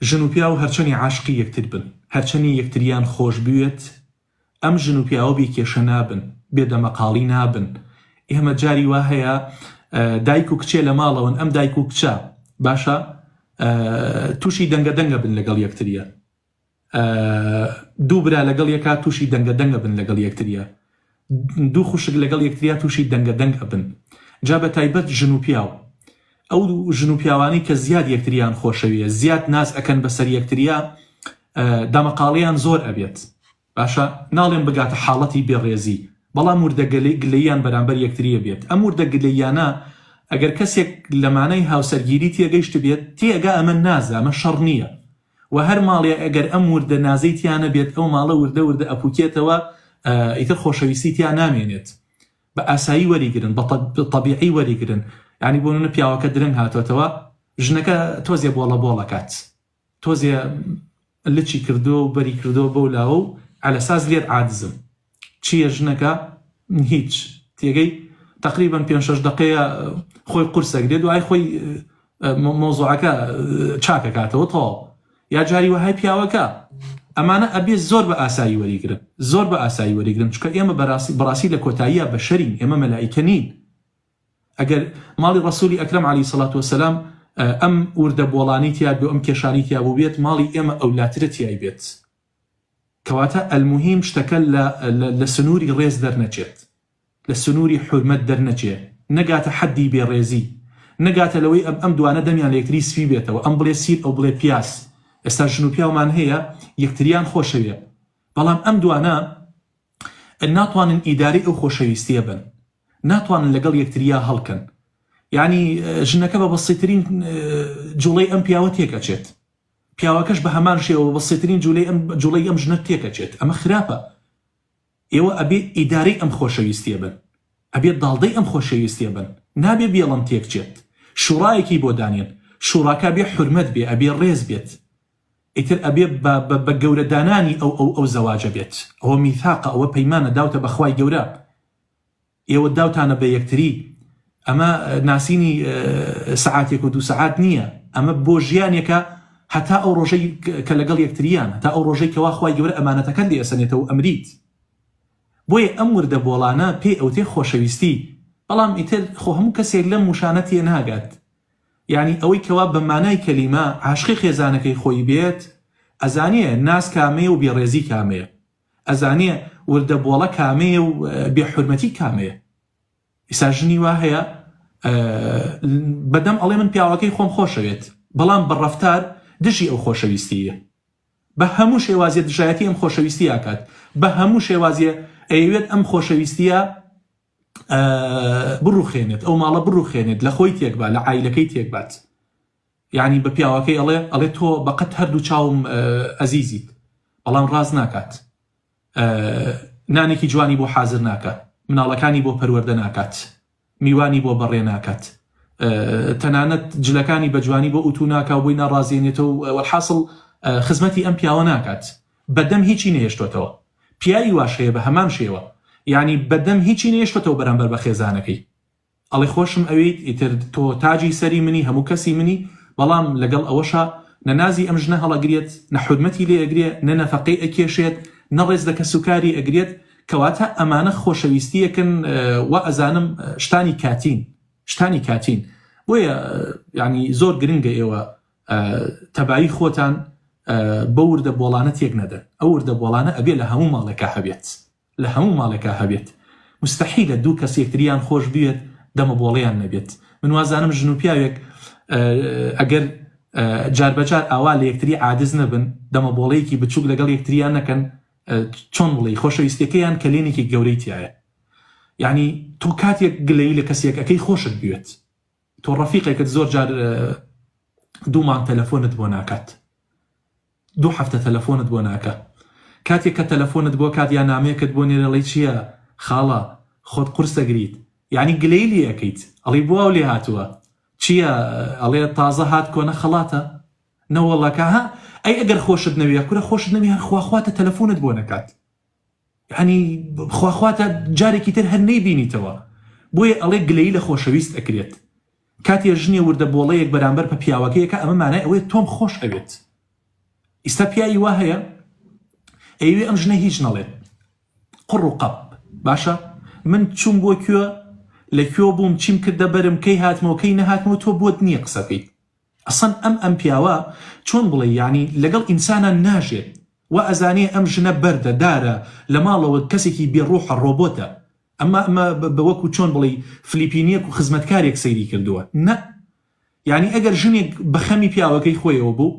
ژن و پیاو هەرچەنی عاشقی یەکتر بن، هەرچەنی یەکتریان خۆش بوێت، ئەم ژن و پیاوە بێ کێشە نابن، بێ دەمەقاڵی نابن. ئێمە جاری وا هەیە دایک و کچێ لە ماڵەوەن، ئەم دایک و کچە باشە تووشی دەنگە دەنگە بن لەگەڵ یەکتریان. دوو برا لەگەڵ یەکا تووشی دەنگە دەنگ ئەبن لەگەڵ یەکتریا دوو خوشک لەگەڵ یەکتریا تووشی دەنگە دەنگ ئەبن جا بە تایبەت ژن و پیاو ئەو ژن و پیاوانی کە زیاد یەکتریان خۆشەویە زیاد ناز ئەەکەن بەسەر یەکتریا دامەقاڵیان زۆر ئەبێت باشە ناڵێن بگاتە حاڵەتی بێڕێزی بەڵام وردەگەلی گلەیان بەرامبەر یەکتریە بێت ئەم وردە گلەیانە ئەگەر کەسێک لەمانەی هاوسەرگیری تێگەیشت بێت تێگا ئەمە نازە ئەمە شەڕ نییە وە هەر ماڵێ ئەگەر ئەم وردە نازەی تیا نەبێت ئەو ماڵە وردە وردە ئەپوکێتەوە ئیتر خۆشەویستی تیا نامێنێت بە ئاسایی وەریگرن بە طبیعی وەریگرن ینی بۆ منە پیاوەکە درەنگ هاتۆتەوە ژنەکە تۆزێ بۆڵە بۆڵەکات تۆزێ لچی کردو و بەری کردو بەو لاوە و ئەلەساس لێت عادزم چیە ژنەکە هیچ تێگەی تقریبا پێنج شەش دقەیە خۆی قورسە گرێ دوای خۆی مۆزوعەکە چاکەکاتەوە تەواو یا جاری وەهای پیاوەکە ئەمانە ئەبێ زۆر بە ئاسایی وەریگرن زۆر بە ئاسایی وەریگرن چکە ئێمە بەراسی بڕاستی لە کۆتاییە بەشەرین ئێمە مەلایکە نین ئەگەر ماڵی ڕسووری ئەکرم علی سەڵات وسلام ئەم وردە بۆڵانی تیاب و ئەم کێشانی تیاب و بێت ماڵی ئێمە ئەولاترە تیای بێت کەواتە الموهیم شتەکە لە لە سنووری ڕێز دەرنەچێت، لە سنووری حورمەت دەرنەچێ، نەگاتە حەددی بێڕێزی، نەگاتە لەوەی ئەم ئەم دوانە دەمیان لە یەکتری سپی بێتەوە، ئەم بڵێ سین ئەو بڵێ پیاز، ئێستا ژن و پیاومان هەیە یەکتریان خۆشەوێ، بەڵام ئەم دوانە ناتوانن ئیدارەی ئەو خۆشەویستییە بن، ناتوانن لەگەڵ یەکتریا هەڵکەن، یەعنی ژنەکە بە بەسیترین جوڵەی ئەم پیاوە تێک ئەچێت. پیاوەکەش بە هەمان شێوە بە سێترین جولەی ئەم جوڵەی ئەم ژنە تێکەچێت ئەمە خراپە ئێوە ئەبێ ئیدارەی ئەم خۆشەویستیە بن ئەبێ داڵدەی ئەم خۆشەویستیە بن نابێ بێڵم تێکچێت شوڕایەکی بۆ دانێن شوڕاکە بێ حورمەت بێ ئەبێ ڕێز بێت ئیتر ئەبێ بە گەورە دانانی ئەو ئەو ئەو زەواجە بێت ئەوە میثاقە ئەوە پەیمانە داوتە بەخوای گەورە ئێوە داوتانە بە یەکتری ئەمە ناسینی سەعاتێک و دوو سەعات نییە ئەمە بۆ ژیانێکە هەتا ئەو ڕۆژەی کە لەگەڵ یەکتریان تا ئەو ڕۆژەی کەوا خخوای گەورە ئەمانەتەکەت لێ ئەسەنێتەوە و ئەمریت بۆیە ئەم وردە بۆڵانە پێی ئەوتێ خۆشەویستی بەڵام ئیتر خۆ هەموو کەسێک لەم وشانە تێ ناگات یعنی ئەوەی کەوا بە مانای کەلیمە عاشقی خێزانەکەی خۆی بێت ئەزانێ ناز کامەیە و بێڕێزی کامەیە ئەزانێ وردە بۆڵە کامەیە و بێ حورمەتی کامەیە ئیسا ژنی وا هەیە بەدەم ئەڵێ من پیاوەکەی خۆم خۆشەوێت بەڵام بە ڕفتار دژی ئەو خۆشەویستیە بە هەموو شێوازیە دژایەتی ئەم خۆشەویستی ئاکات بە هەموو شێوازیە ئەیەوێت ئەم خۆشەویستیە بڕوخێنێت ئەو ماڵە بڕوخێنێت لە خۆی تێکبا لە ئایلەکەی تێکبات یانی بە پیاوەکەی ئەڵێ ئەڵێ تۆ بەقەت هەردوو چاوم ئەزیزیت بەڵام ڕاز ناکات نانێکی جوانی بۆ حازر ناکە مناڵەکانی بۆ پەروەەردە ناکات میوانی بۆ بەڕێ ناکات تەنانەت جلەکانی بەجوانی بۆ ئوتو ناکا و بۆی ناڕازێنێتەوە وەحاصل خزمەتی ئەم پیاوە ناکات بەدەم هیچی نێشتۆتەوە پیاوی واش هەیە بە هەمان شێوە یعنی بەدەم هیچی نێشتۆتەوە بەرامبەر بە خێزانەکەی ئەڵێ خۆشم ئەوێیت ئیتر تۆ تاجی سەری منی هەموو کەسی منی بەڵام لەگەڵ ئەوەشا نە نازی ئەم ژنە هەڵەگریەت نە حورمەتی لێ ئەگرێ نە نەفەقەی ئەکێشێت نە ڕێز لە کەسوکاری ئەگرێت کەواتە ئەمانە خۆشەویستیەکن وائەزانم شتانی کاتین شتانی کاتین بۆیە یانی زۆر گرنگە ئێوە تەبایی خۆتان بەو وردە بۆڵانە تێک نەدەن ئەو وردە بۆڵانە ئەبێ لە هەموو ماڵێکا هەبێت لە هەموو ماڵێکا هەبێت مستحیلە دوو کەس یەکتریان خۆش بوێت دەمە بۆڵیان نەبێت من وازانم ژن و پیاوێک ئەگەر جاربەجار ئاوا لە یەکتری عادز نەبن دەمە بۆڵەیەکی بچووک لەگەڵ یەکتریان نەکەن چۆن بڵی خۆشەویستەکەیان کەلێنێکی گەورەی تایە یعنی تۆ کاتێک گلەی لە کەسێک ئەەکەی خۆشت بوێت تۆ ڕەفیقێکت زۆر جار دوومان تەلەفۆنت بۆ ناکات دوو هەفتە تەلەفۆنت بۆ ناکا کاتێک کە تەلەفۆنت بۆ کات یا نامەیەکت بۆ نێرێ ئەڵێی چیە خاڵە خۆت قورس ئەگریت یانی گلەی لێ ئەکەیت ئەڵی بۆ ئەو لێ هاتووە چیە ئەڵێ تازە هات کۆنە خەڵاتە نەوەڵڵا کە ها ئەی ئەگەر خۆشت نەویە کورە خۆشت نەوی هەر خوا خواتە تەلەفۆنت بۆ نەکات یەعنی خوا خوا تا جارێکی تر هەر نەیبینیتەوە بۆیە ئەڵێ گلەیی لە خۆشەویست ئەکرێت کاتێ ژنێ وردە بۆڵەیەک بەرامبەر پە پیاوەکەیەکە ئەمە مانای ئەوەیە تۆم خۆش ئەوێت ئیستا پیاوی وا هەیە ئەیوێ ئەم ژنە هیچ نەڵێت قڕ و قەپ باشە من چوم بۆ کوێ لە کوێ بووم چیم کردە بەرم کەی هاتمەوە کەی نەهاتمەوە تۆ بۆت نییە قسەکەیت ئەسڵەن ئەم ئەم پیاوە چۆن بڵێی یەعنی لەگەڵ ئینسانان ناژێت وا ئەزانێ ئەم ژنە بەردە دارە لە ماڵەوە کەسێکی بێ ڕوحە ڕۆبۆتە ئەمە ئەمە بە وەکو چۆن بڵێی فلیپینیەک و خزمەتکارێک سەیری کردووە نە یەعنی ئەگەر ژنێک بەخەمی پیاوەکەی خۆیەوە بوو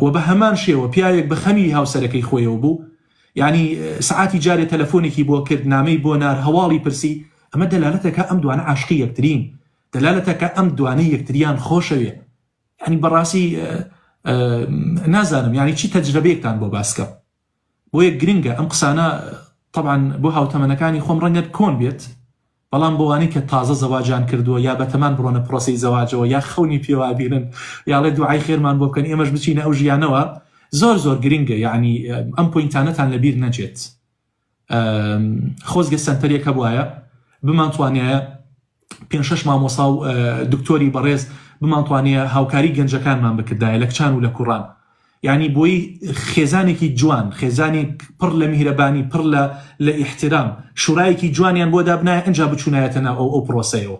و بە هەمان شێوە پیاوێک بە خەمی هاوسەرەکەی خۆیەوە بوو یانی سەعاتی جارێ تەلەفۆنێکی بۆ کرد نامەی بۆ نار هەواڵی پرسی ئەمە دەلالەتەکە ئەم دوانە عاشقی یەکترین دەلالەتەکە ئەم دوانە یەکتریان خۆشەوێ ینی بەڕاستی نازانم یانی چی تەجرەبێکتان بۆ باسکەم بۆیە گرنگە ئەم قسانە تەبعەن بۆ هاوتەمەنەکانی خۆم ڕەنگە کۆن بێت بەڵام بۆوانەی کە تازە زەواجیان کردووە یا بەتەمان بڕۆنە پرۆسەی زەواجەوە یا خەونی پێوا بینن یاڵێ دوعای خێرمان بۆ بکەن ئێمەش بچینە ئەو ژیانەوە زۆر زۆر گرنگە یعنی ئەم پوینتانەتان لەبیر نەچێت خۆزگە سەنتەرێک هەبوایە بمانتوانایە پێنج شەش مامۆسا و دکتۆری بەڕێز بمانتوانەیە هاوکاری گەنجەکانمان بکردایە لە کچان و لە کوڕان یعنی بۆی خێزانێکی جوان خێزانی پڕ لە میهرەبانی پڕ لە لە ئیحترام شورایەکی جوانیان بۆ دابنایە ئەجا بچوونایەتە ناو ئەو ئەو پرۆسەیەوە